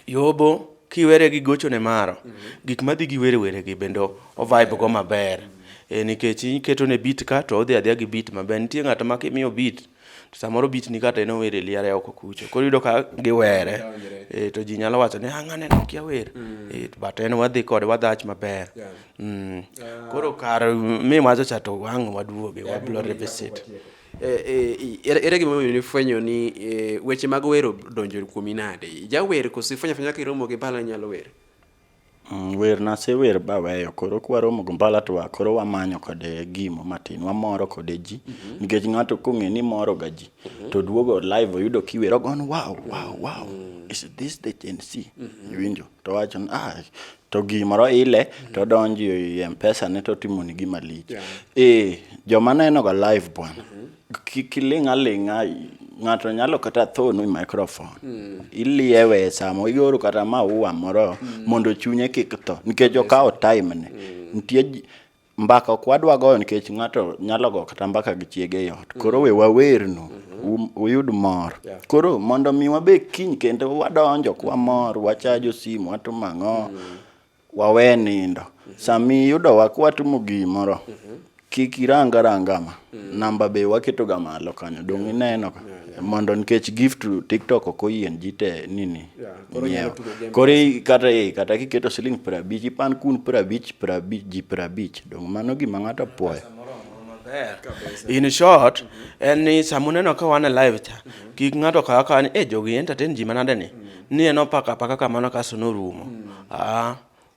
yobo kiwere gi gochone maro, mm. gik madhi gi were were gi bende o vibe go maber. Mm. Eh, nikech iketone beat ka to odhi adhiya gi beat maber. Nitie ng'ato ma kimiyo beat, mm. to samoro beat ni kata en ower e liare oko kucho koro yudo ka giwere e, to ji nyalo wacho ni ang' ah, aneno kia wer mm. e, but en wadhi kode wadhach maber yeah. mm. uh, koro kar mi wacho cha to wang' waduoge yeah, wablo revisit eh, eh, ere gima omiyo nifwenyo ni eh, weche mag wero donjo kuomi nade jawer koso ifwenyo afwenya kaka iromo gi bala nyalo wer Mm, wer nasewer baweyo koro kwaromo go mbala to koro wamanyo kode gimo matin wamoro kode ji mm -hmm. nikech ng'ato kong'e ni moro ga ji mm -hmm. to duogo live oyudo kiwero gon wow wow wow mm -hmm. is this the Gen Z mm -hmm. iwinjo to wacho ah to gimoro ile mm -hmm. to donji e mpesa ne to timoni gima lich yeah. e eh, joma neno ga live bwana mm -hmm. Kik iling' aling'a, ng'ato nyalo kata tho ni microphone. Mm. Iliewe e samo, ioro kata maua moro mm. mondo chunye kik tho, nikech okawo time ne. Mm. Nitie mbaka ok wadwa goyo nikech ng'ato nyalo go kata mbaka gi chiege e ot. Koro mm. we wawernu, mm-hmm. um, uyud mor. Yeah. Koro mondo mi wabe kiny kendo wadonjo kwa mor, wachajo simu, watimo ang'o. Mm. Wawe nindo. Sami yudowa kwatimo gimoro, kik irang aranga ma. Namba be waketo ga malo kanyo. Donge ineno ka? Mondo nikech gift to TikTok ok oyien ji te nini. Yeah, koro nyiewo. inyalo tugo game Koro i- kata eh, kata kiketo siling piero abich, ipan kun piero abich, piero abich, ji piero abich. Donge mano gima ng'ato puoyo. in short en ni sama uneno ka wan e live cha kik ng'ato kawa kawa ni e jogi entertain ji manade ni ni en opaka apaka kamano kaso norumo mm. ah,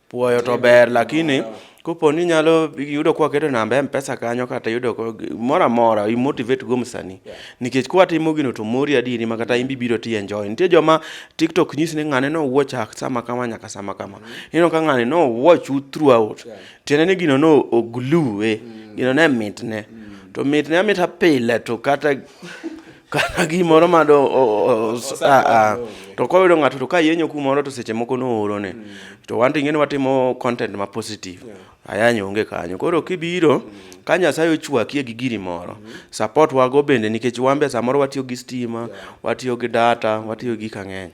puoyo to ber lakini mm. kopo ni nyalo yudo kwa keto namba mpesa kanyo kata yudo mora mora i motivate go msani yeah. nikech kwa timo gino to mori adini ma kata imbi biro ti enjoy nitie joma tiktok nyis ni ngane no watch ak sama kama nyaka sama kama mm -hmm. ino ka ngane no watch you throughout yeah. tiene ni gino no oglue eh. mm -hmm. gino ne mitne mm -hmm. to mitne amita pile to kata kata gimoro ma do to koyudo ng'ato to ka yenyo kumoro to seche moko nooro ne mm. to wan to ing'eni watimo content ma positive ayany onge kanyo koro kibiro mm. ka nyasaye ochwakie gi giri moro mm. support wago bende nikech wambe samoro watiyo gi stima watiyo gi data watiyo gi kang'eny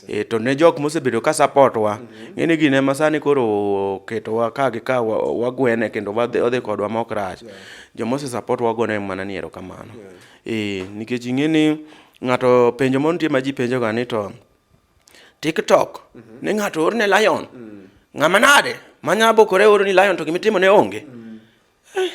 e, to ne jok mosebedo ka support wa mm-hmm. ng'eni gine ma sani koro oketowa ka gi ka wagwene kendo odhi kodwa ma ok rach jomose support wago ne mana ni erokamano Ee, nikech ing'e ni ng'ato penjo moro nitie ma ji penjoga ni to TikTok mm -hmm. ne ng'ato orne lion mm -hmm. ng'ama nade manya bokore oro ni lion to gima itimo ne onge mm -hmm. eh.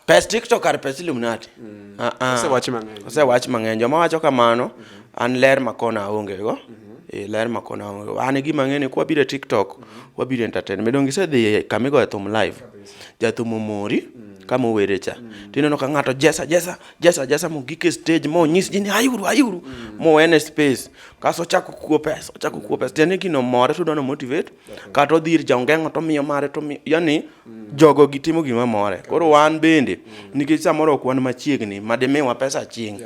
pes TikTok kar pes Illuminati mm -hmm. uh -uh. osewach mang'eny osewach mang'eny joma wacho kamano mm -hmm. an ler makona onge go mm -hmm. E, ler makona onge go an gima ng'e ni kwa bire TikTok mm -hmm. wabire entertainment donge isedhi kamigoye thum live mm -hmm. jathum omori mm. kama owere cha mm. to ineno ka ng'ato jesa jesa jesa jesa mogik e stage ma onyis ji ni ayuru ayuru mm. mowene space kaso ochako kuo pesa ochako kuo pesa tiende gino more to dono motivate kata odhi ir jaongeng'o to miyo mare to yani mm. jogo gitimo gima more koro wan bende mm. nikech samoro ok wan machiegni ma dimiwa pesa chieng'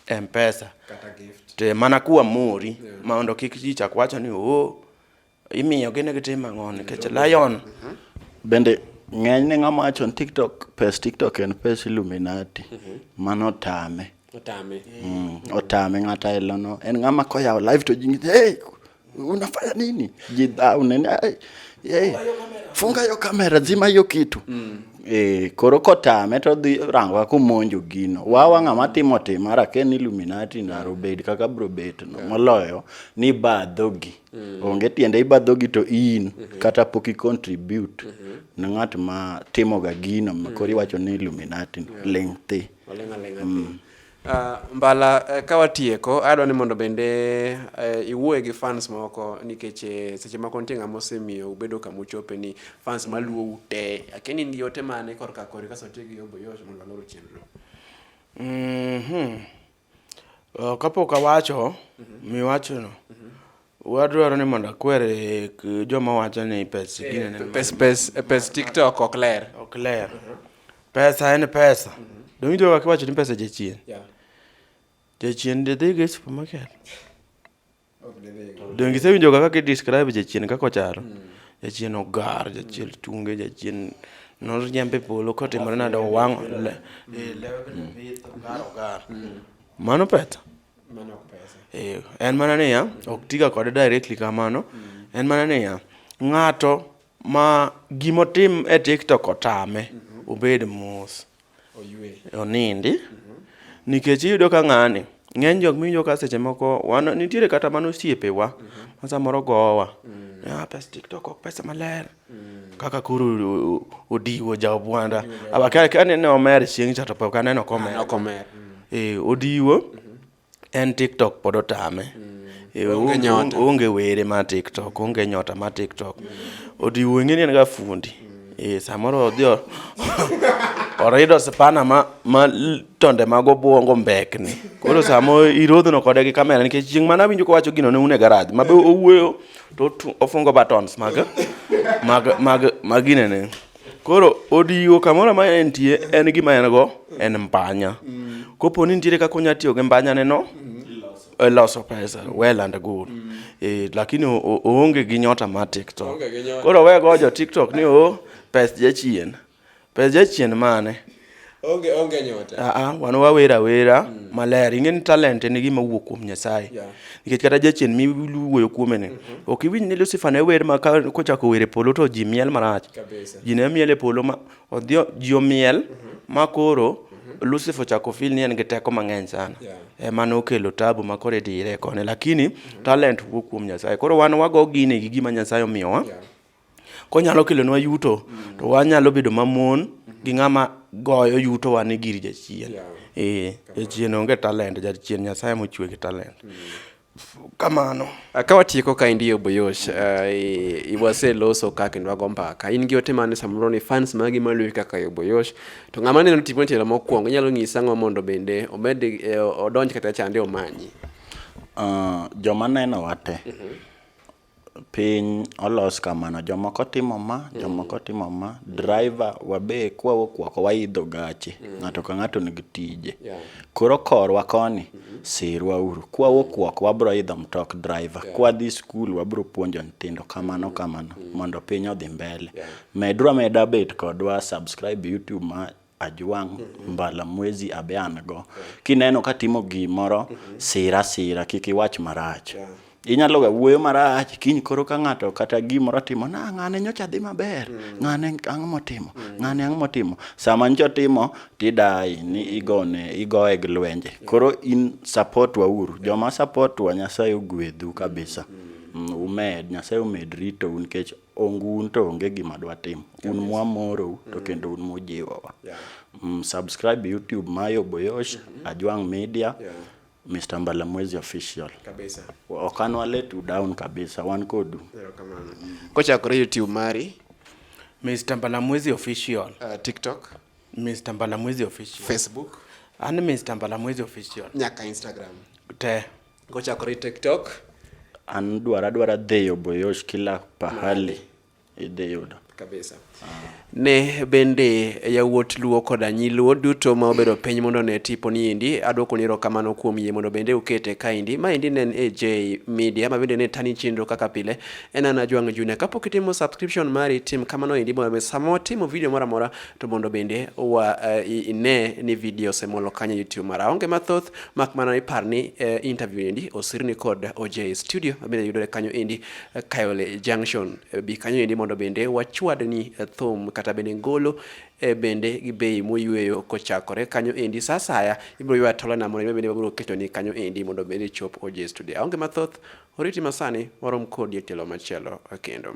yeah. mpesa to mana kuwa mori yeah. mondo kik ji chak wacho ni oo oh, Imiyo gine gitim ang'o nikech Lion mhm. bende ng'eny ne ng'ama wacho TikTok pes TikTok en pes Illuminati mhm. mano tame otame mm, otame ng'ata elono en ng'ama koyawo live to jingi hey unafanya nini jidhau nene hey, funga yo kamera zima yo kitu mm. E, koro kotame to dhi rango kumonjo gino wawa ng'ama timo tim ara ke ni Illuminati ndaro bed kaka bro bet no moloyo ni badhogi Mm. Onge tiende ibadhogi to in mm-hmm. kata pok i contribute mm-hmm. ne ng'at ma timoga gino ma koro mm. iwacho ni Illuminati no yeah. ling thi. Oling aling aling. Mm. Uh, mbala uh, ka watieko adwa ni mondo bende uh, iwuoye gi fans moko nikech eh, seche moko nitie ng'ama osemiyo ubedo kama uchope ni fans maluwo ute akeni ni yote mane korka kori kaso tiyo gi yoboyosh mondo aloro chenro mm -hmm. Kapok awacho miwachono, wadwaro ni mondo akwer e joma wacho ni pes gini en Pes, pes, pes TikTok ok ler. ok ler. Pesa en pesa. Donge wakiwacho ni pesa jachien? Yeah. Jachien didhi go e supermarket. Donge isewinjo kaka ki describe jachien kaka ochalo? Hmm. Jachien ogar, jachien tunge, jachien noriembe polo kotimore nade owang' hmm. eh, hmm. mano pesa eh, en mana niya ok tiga kode directly kamano en mana niya ng'ato ma gimotim e tiktok otame obed mos onindi nikech iyudo ka ng'ani ng'eny jok miwinjo ka seche moko wan nitiere kata mana osiepewa mm-hmm. ma samoro gowa mm. ah, pes tiktok ok pesa maler mm. kaka koro odiwo jaobwanda abakane ne omer chieng' cha to pok aneno komer ah, mm. eh, odiwo mm-hmm. en tiktok pod otame eh, onge were ma tiktok onge nyota ma tiktok odiwo ing'eni en ga fundi eh, samoro odhi orido sipana ma, ma tonde mag obwongo mbekni koro samo irodhno kode gi kamera nikech chieng' mana winjo kowacho gino ne une garaj mabe owuoyo to ofungo buttons mag mag mag maginene Koro odigo kamoro ma entie en gima en go en mbanya. Kopo ni nitiere kaka onya tiyo gi mbanya neno e loso pesa well and good. Eh, lakini o- o- oonge gi nyota mar TikTok. Oonge gi nyota. Koro we go jo TikTok ni o pes jachien. Pes jachien mane? onge onge nyota a ah, a ah, wan wawera wera mm. maler ingeni talent en gima wuok kuom nyasaye yeah. nikech kata jachien mi wuoyo kuome ni mm -hmm. ok iwinj ni lucifer ne wer ma kochako wer e polo to ji miel marach ji ne miel e polo ma odhi ji omiel mm -hmm. ma koro mm -hmm. lucifer ochako fil ni en gi teko mang'eny sana yeah. ema nokelo tabu ma koro idire kone lakini mm -hmm. talent wuok kuom nyasaye koro wan wago gine gi gima nyasaye omiyowa yeah. Konyalo kelonwa yuto to wanyalo bedo mamon gi ng'ama goyo yutowa ni gir jachien. Ee, jachien onge talent, jachien Nyasaye mochwe gi talent. Kamano. Ah, Ka watieko ka indiyo Boyosh, uh, i- i- waseloso ka kendo wago mbaka. In gi ote mane samoro ni fans magi maluwi kaka yo Boyosh. To ng'ama neno tipo tielo mokwongo inyalo nyisa ang'o mondo bende omed eh, odonj kata chande omanyi. Ah, joma neno wate Piny olos kamano, jomoko timo ma, mm. jomoko timo ma. Driver wabe kwa wuok oko waidho gache, mm. ng'ato ka ng'ato nigi tije. Koro korwa koni, mm-hmm. sirwa uru. Kwa wuok oko wabro idho mtok driver, kwa dhi skul wabro puonjo nyithindo kamano mm-hmm. kamano mm. mondo piny odhi mbele. Medrwa meda bet kodwa subscribe YouTube ma Ajwang' mbala mwezi abe an go. Kineno katimo gimoro, sir asira kik iwach marach. Inyaloga wuoyo marach, kiny koro ka ng'ato kata gimoro otimo ni ah, ng'ane nyocha dhi maber, ng'ane ang'o motimo, ng'ane ang'o motimo. Sama nyocha otimo tidaye ni igone, igoye gi lwenje. Koro in support wauru, joma support wa Nyasaye ogwedhu kabisa. Umed, Nyasaye omed ritou nikech ongun to onge gima dwa timo un mwamorou to kendo un mujiwowa Yeah. mm, subscribe youtube mayo boyosh ajwang media Yeah. mr mbalamwezi official Kabisa. ok an walet u down kabisa wan kodu Erokamano. Kochakore YouTube mari, Mr. Mbalamwezi official. uh, TikTok, Mr. Mbalamwezi official. Facebook, An Mr. Mbalamwezi official. nyaka Instagram. Te. Kochakore TikTok. An dwara dwara dheyo boyosh kila pahali idhi yudo. Kabisa. Ne bende yawuot Luo koda nyi Luo duto ma obedo piny mondo ne tipo ni endi adwoko ni erokamano kuom yie mondo bende ukete kaendi. Maendi ne en AJ Media ma bende ne tani chenro kaka pile en an Ajwang' Junior. Kapok itimo subscription mari tim kamano endi mondo be sama watimo video moro amora to mondo bende wa, uh, ine ni video osemolo kanyo YouTube mara. Onge mathoth Mak mana ni par ni eh, interview endi osirni kod OJ studio mabende yudore kanyo endi eh, Kayole Junction. Eh, bi kanyo endi mondo bende wachwad ni eh, thum kata bende ngolo eh, bende gi bei moyweyo kochakore kanyo endi sa asaya ibiro ywa tola na mondo bende wabiro keto ni kanyo endi mondo bende chop OJ studio. Aonge mathoth, oriti masani warom kodi e tielo machielo eh, kendo.